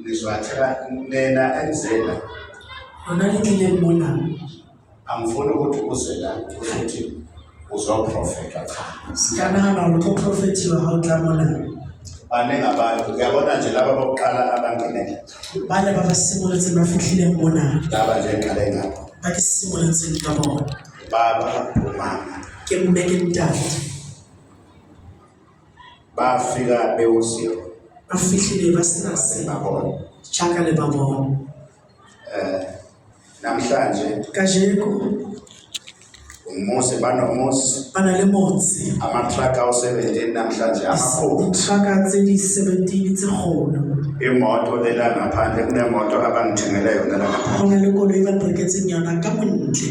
ngizwathela lena enzela lona lingile libona angifuni ukuthi uze la ukuthi uzoprofeta cha sikanana ukuthi uprofethiwe hawutlamona baningi abantu uyabona nje laba bokuqala abangenele bale babasimuletse bafihlile ngibona laba nje ngale ngapho bakisimuletse ngikabona baba umama ke mmeke mntana bafika bewuziro ba fihlile ba sena se ba bona chaka le ba bona eh namhlanje kajeko umuzi banomuzi bana le motse amatraka u-17 namhlanje amakhulu itraka tse di-17 tse kgolo imoto lela ngaphandle kunemoto abangithengele yona la ngaphandle go na le koloi ba reketseng yona ka bontle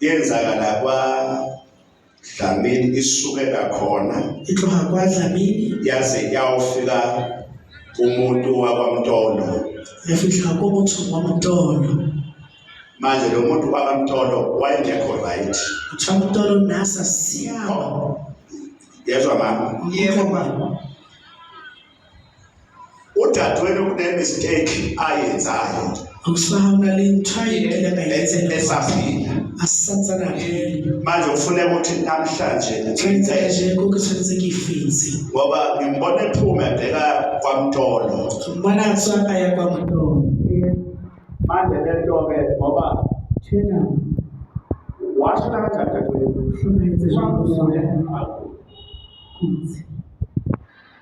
Yenzakala kwa Dlamini isukela khona itloha kwa Dlamini yaze yawufika umuntu wakwaMtolo yafihla komuntu wakwaMtolo manje lo muntu wakwaMtolo wayengekho right kuthiwa uMtolo nasa siyawa yezwa mama yebo mama udadewenu kunemistake ayenzayo awusawona le nthayini elakayenza esaphila asansana manje ufuneka ukuthi namhlanje ngenza nje konke senze ngifinzi ngoba ngimbona ephuma ebheka kwamtolo ngibona atsa aya kwamtolo manje le nto ke ngoba thina washo kanjani dadewenu hloniphe nje ukuthi